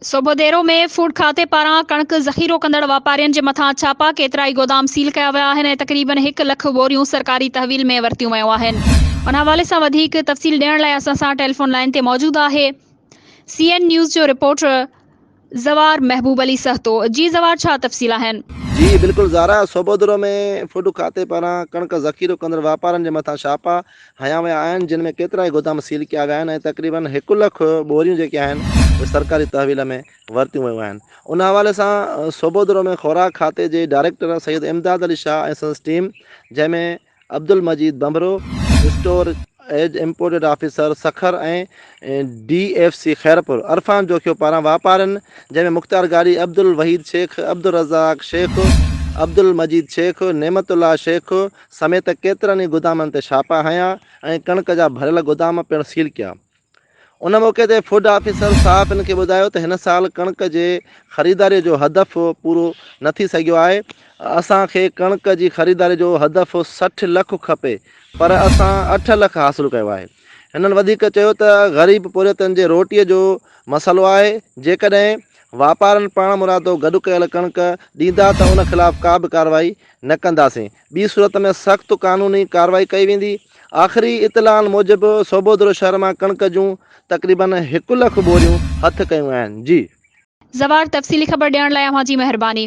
Sobhodero ۾ food کاتي پاران ڪڻڪ ذخيرو ڪندڙ واپارين جي مٿان ڇاپا، ڪيترائي گودام سيل ڪيا ويا آهن ۽ تقريبن هڪ لک ٻوريون سرڪاري تحويل ۾ ورتيون ويون آهن. ان حوالي سان وڌيڪ تفصيل ڏيڻ لاء اسان سان ٽيليفون لائين تي موجود آهي سي اين نيوز جو رپورٽر زوار محبوب علي سهتو. جي زوار ڇا تفصيل آهن؟ جي بلڪل زارا، سوڀوديرو ۾ فوڊ کاتي پاران ڪڻڪ ذخيرو ڪندڙ واپارين جي مٿان ڇاپا، هنيا ويا آهن جن ۾ ڪيترائي گودام سيل ڪيا ويا آهن ۽ تقريبن هڪ لک ٻوريون جيڪي آهن اهي سرڪاري تحويل ۾ ورتيون ويون آهن ان حوالي سان سوڀودرو ۾ خوراڪ کاتي جي ڊائريڪٽر سيد امداد علي شاهه ۽ سندس ٽيم جنهن ۾ Abdul Majeed Bhambhro, store age imported officer Sukkur ۽ D F C Khairpur Irfan Jokhio پاران واپارين جنهن ۾ مختيار گاڏهي، عبدالوحيد شيخ، عبدالرزاق شيخ، عبدالمجيد شيخ، نعمت الله شيخ، سميت ڪيترن ئي گودامن تي ڇاپا هنيا ۽ ڪڻڪ جا ڀريل گودام پڻ سيل ڪيا. ان موقعي تي فوڊ آفيسر صحافين کي ٻڌايو ته هن سال ڪڻڪ جي خريداري جو هدف پورو نه ٿي سگهيو آهي، اسان کي ڪڻڪ جي خريداري جو هدف سٺ لک کپي پر اسان اٺ لک حاصل ڪيو آهي. هنن وڌيڪ چيو ته غريب پورهيتن جي روٽي جو مسئلو آهي، جيڪڏهن واپارين پاڻمرادو گڏ ڪيل ڪڻڪ ڏيندا ته ان خلاف ڪا به ڪارروائي نه ڪنداسين، ٻي صورت ۾ سخت قانوني ڪارروائي ڪئي ويندي. آخري اطلاعن موجب سوڀودرو شهر مان ڪڻڪ جون تقريباً هڪ لک ٻوريون هٿ ڪيون آهن. جي. زوار تفصيلي خبر ڏيڻ لاء اوهان جي مهرباني.